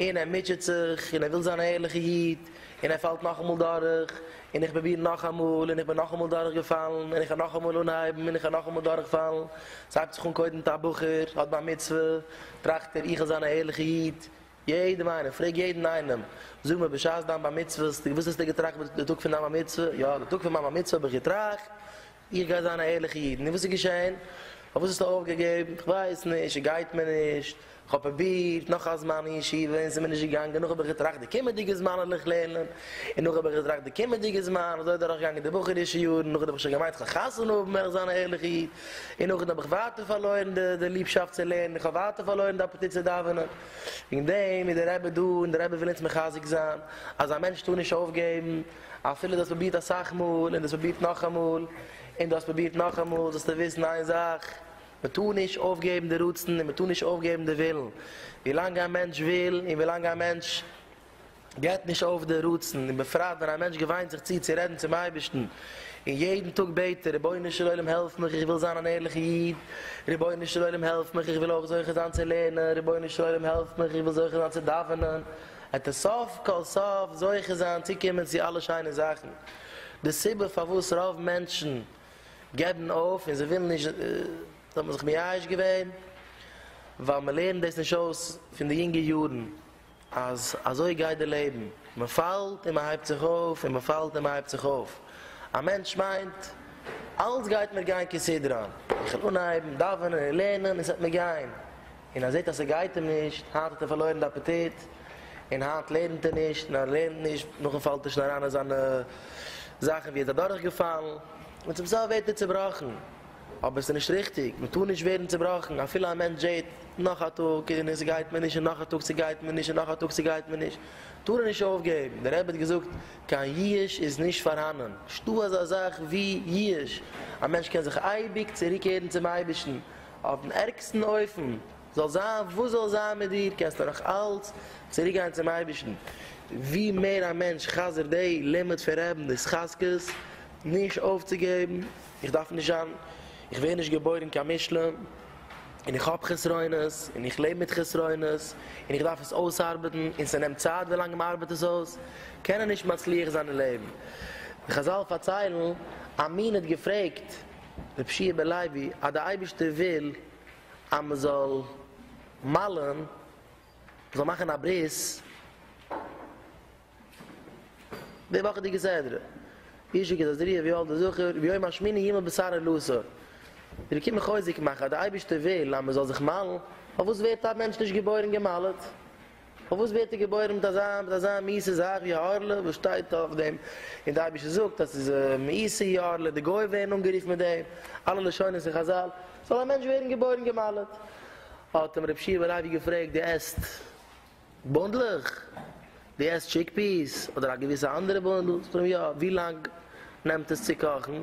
און ער מוטשעט זיך, און ער וויל זיין א ערליכע איד, און ער פאלט נאכאמאל דורך, און איך פרוביר נאכאמאל, און איך בין נאכאמאל דורך געפאלן, און איך הער נאכאמאל אנהייבן, און איך הער נאכאמאל דורך פאלן, ס'הייבט זיך אן קודם מיט א בחור, האט בר מצוה, טראכט ער איך וויל זיין א ערליכע איד, יעדעם איינעם, פרעג יעדן איינעם, זאג מיר בשעת דיין בר מצוה, וואס האסטו געטראכט די טאג פון דיין בר מצוה, יא די טאג פון מיין בר מצוה האב איך געטראכט, איך גיי זיין א ערליכע איד. נו וואס איז געשען? פארוואס האסטו אויפגעגעבן? איך ווייס נישט, עס גייט מיר נישט, איך האב פרובירט נאך א זמן אין ישיבה און עס איז מיר נישט געגאנגען, נאך האב איך געטראכט די קומעדיגע זמן וועל איך לערנען, און נאך האב איך געטראכט די קומעדיגע זמן, אזוי איז דורכגעגאנגען די בחור'ישע יארן, נאכדעם האב איך שוין געמיינט איך וועל חתונה האבן וועל איך זיין א ערליכע איד, און נאכדעם האב איך ווייטער פארלוירן די ליבשאפט צו לערנען, איך האב ווייטער פארלוירן די אפעטיט צו דאווענען. וועגן דעם איז דער רבי דא און דער רבי וויל אונז מחזק זיין אז א מענטש טאר נישט אויפגעבן, אפילו דו האסט פרובירט אסאך מאל און דו האסט פרובירט נאכאמאל און דו האסט פרובירט נאכאמאל זאלסטו וויסן איין זאך, מען טאר נישט אויפגעבן די רצון און מען טאר נישט אויפגעבן די ווילן. ווילאנג א מענטש וויל און ווילאנג א מענטש געבט נישט אויף די רצון, און בפרט ווען א מענטש געוויינט זיך צו צו רעדן צום אייבערשטן און יעדן טאג בעט ער, רבונו של עולם העלף מיך איך וויל זיין אן ערליכע איד, רבונו של עולם העלף מיך איך וויל אויך זוכה זיין צו לערנען, רבונו של עולם העלף מיך איך וויל זוכה זיין צו דאווענען. עט די סוף כל סוף זוכה זיין צו קומען צו אלע שיינע זאכן, די סיבה פארוואס רוב מענטשן געבן אויף און זיי ווילן נישט, דאס האט מען זיך מייאש געווען, ווייל מען לערנט דאס נישט אויס פון די יונגע יארן אז אזוי גייט די לעבן, מען פאלט און מען הייבט זיך אויף און מען פאלט און מען הייבט זיך אויף, א מענטש מיינט אלעס גייט מיר גיין כסדרן, איך וועל אנהייבן דאווענען און לערנען און ס'וועט מיר גיין, און ער זעט אז ס'גייט אים נישט, היינט האט ער פארלוירן די אפעטיט, און היינט לערנט ער נישט, און אז ער לערנט נישט, נאכדעם פאלט ער שוין אריין אין זיינע זאכן ווי ער איז אדורך געפאלן, און צום סוף ווערט ער צובראכן, אבער עס איז נישט ריכטיג, מען טאר נישט ווערן צובראכן, אפילו א מענטש זעט, נאך א טאג און עס גייט מיר נישט, און נאך א טאג ס'גייט מיר נישט, און נאך א טאג ס'גייט מיר נישט, טאר ער נישט אויפגעבן, דער רבי האט געזאגט, קיין ייאוש איז נישט פארהאנען, נישטא אזא זאך ווי ייאוש, א מענטש קען זיך אייביג צוריקערן צום אייבערשטן, אויפן ערגסטן אופן, זאל זיין וואס זאל זיין מיט דיר, קענסטו נאך אלץ צוריק גיין צום אייבערשטן. ווי מער א מענטש חזר'ט די לימוד פון רעבן די התחזקות נישט אויפצוגעבן, איך דארף נישט זיין, איך ווער נישט געבוירן קיין מושלם, און איך האב חסרונות, און איך לעב מיט חסרונות, און איך דארף עס אויסארבעטן, און ס'נעמט צייט ווילאנג מ'ארבעט עס אויס, קען ער נישט מצליח זיין אין לעבן. די חזל פארציילן, א מין האט געפרעגט, ר' פשי' בן לוי אז די אייבערשטער וויל אז מען זאל מל'ן, מען זאל מאכן א ברית, די וואכעדיגע סדרה, איש הכה את הזריעה ויולד הזכר, ביום השמיני ימלא בשר הלוסה, די רבי קומט חוזק מאכן אז די אייבערשטער וויל אז מען זאל זיך מל'ן, פארוואס ווערט א מענטש נישט געבוירן געמל'ט? פארוואס ווערט ער געבוירן מיט אזא מיט אזא מיעסע זאך ווי א הארלע? וואס שטייט אויף דעם? און די אייבישטער זאגט אז ס'איז א מיעסע יארלע, די גוים ווערן אנגערופן מיט דעם, אלע לשונות אין חזל, זאל א מענטש ווערן געבוירן געמאלעט. האט אים רב שיעבער לייבי געפרעגט, דו עסט בונדלעך? דו עסט טשיק-פיעס אדער א געוויסע אנדערע בונדל? זאגט ער אים, יא. ווי לאנג נעמט עס צו קאכן?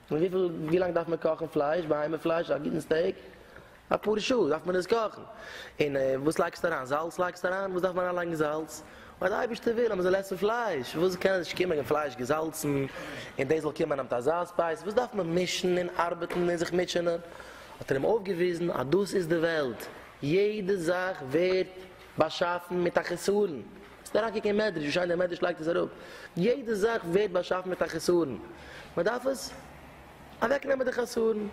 און וויפיל ווי לאנג דארף מען קאכן פלייש בהמה פלייש א גוטן סטעיק אפאר שעה דארף מען עס קאכן און וואס לייגסטו אריין זאלץ לייגסטו אריין וואס דארף מען אריין לייגן זאלץ ווייל די אייבערשטער וויל אז מען זאל עסן פלייש וואס קען נישט קומען פלייש געזאלצן און דאס זאל קומען אן אזא ספייס וואס דארף מען מישן און ארבעטן און זיך מוטשענען האט ער אים אויפגעוויזן אז דאס איז די וועלט יעדע זאך ווערט באשאפן מיט א חסרון. ס'איז אריינגעקוקט אין מדרש ווי שיין דער מדרש לייגט עס אראפ, יעדע זאך ווערט באשאפן מיט א חסרון, מ'דארף עס אוועק נעמען די חסרון,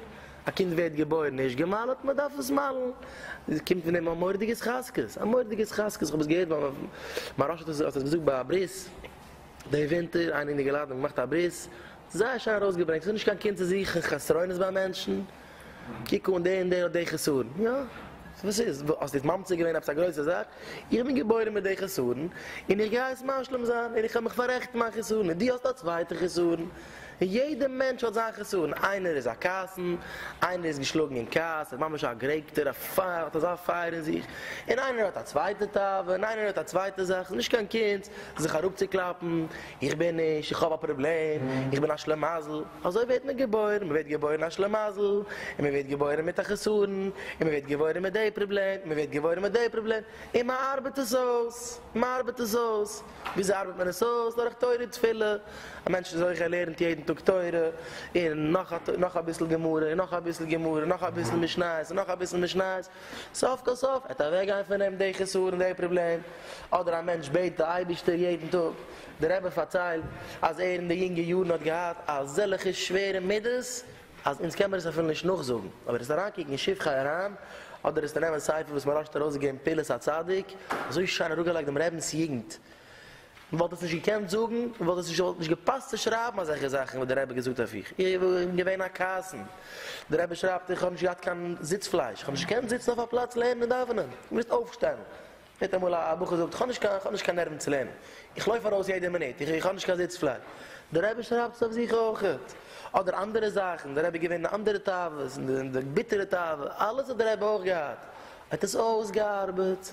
א קינד ווערט געבוירן נישט גע'מל'ט, מ'דארף עס מל'ן, עס קומט פון אים א מורא'דיגע התחזקות, א מורא'דיגע התחזקות, כ'האב עס געהערט ביי מהראש האט עס האט עס געזאגט ביי א ברית די ווינטער, איינער אינערגעלאדענט געמאכט א ברית, זייער שיין ארויסגעברענגט, ס'איז נישט קיין קונץ צו זוכן חסרונות ביי מענטשן, קוק אן דער און דער האט די חסרון. יא, וואס איז? האסט יעצט ממציא געווען עפעס א גרויסע זאך? איך בין געבוירן מיט די חסרון, און איך גיי עס משלים זיין, און איך האב מיך פאררעכטן מיין חסרון, און דו האסט א צווייטע חסרון. און יעדע מענטש האט זיין חסרון, איינער איז א כעסן, איינער איז געשלאגן אין כעס, איז ממש א גערעגטער, האט אזא פייער אין זיך, און איינער האט א צווייטע תאווה, און איינער האט א צווייטע זאך, ס'איז נישט קיין קונץ זיך אראפצוקלאפן, איך בין נישט, איך האב א פראבלעם, איך בין א שלימזל. אזוי ווערט מען געבוירן, מ'ווערט געבוירן א שלמזל, און מ'ווערט געבוירן מיט א חסרון, און מ'ווערט געבוירן מיט די פראבלעם, און מ'ווערט געבוירן מיט די פראבלעם, און מ'ארבעט עס אויס, מ'ארבעט עס אויס, וויאזוי ארבעט מען עס אויס? דורך תורה תפילה, א מענטש איז הויך ער לערנט יעדן טאג תורה, און נאך אביסל גמרא, און נאך אביסל גמרא, און נאך אביסל משניות, און נאך אביסל משניות, סוף כל סוף וועט אוועק גיין פון אים די חסרון די פראבלעם, אדער א מענטש בעט די אייבערשטער יעדן טאג, די רבי פארציילט אז ער אין די יונגע יארן האט געהאט אזעלכע שווערע מידות אז אונז קען מיר עס אפילו נישט נאכזאגן, אויב וועסטו אריינקוקן אין שבחי אריין אדער וועסטו נעמען ספר וואס מוהרא ש האט ארויסגעגעבן פעולת הצדיק, אזוי שיין אראפגעלייגט דעם רבינ'ס יוגנט. מען וואלט עס נישט געקענט זאגן, מען וואלט עס נישט, וואלט נישט געפאסט צו שרייבן אזעלכע זאכן וואס דער רבי האט געזאגט אויף איך, איך בין געווען א קייסן, דער רבי שרייבט איך האב נישט געהאט קיין זיץ פלייש, איך האב נישט געקענט זיצן אויף א פלאץ לערנען און דאווענען, איך מוז אויפשטיין, מיר האט אמאל א בחור געזאגט איך האב נישט קיין, איך האב נישט קיין נערוון צו לערנען, איך לויף ארויס יעדע מינוט, איך האב נישט קיין זיץ פלייש, דער רבי שרייבט עס אויף זיך אויך, אדער אנדערע זאכן, דער רבי איז געווען אין אנדערע תאוות, אין די ביטערע תאוות, אלעס האט דער רבי אויך געהאט, ער האט עס אויסגעארבעט.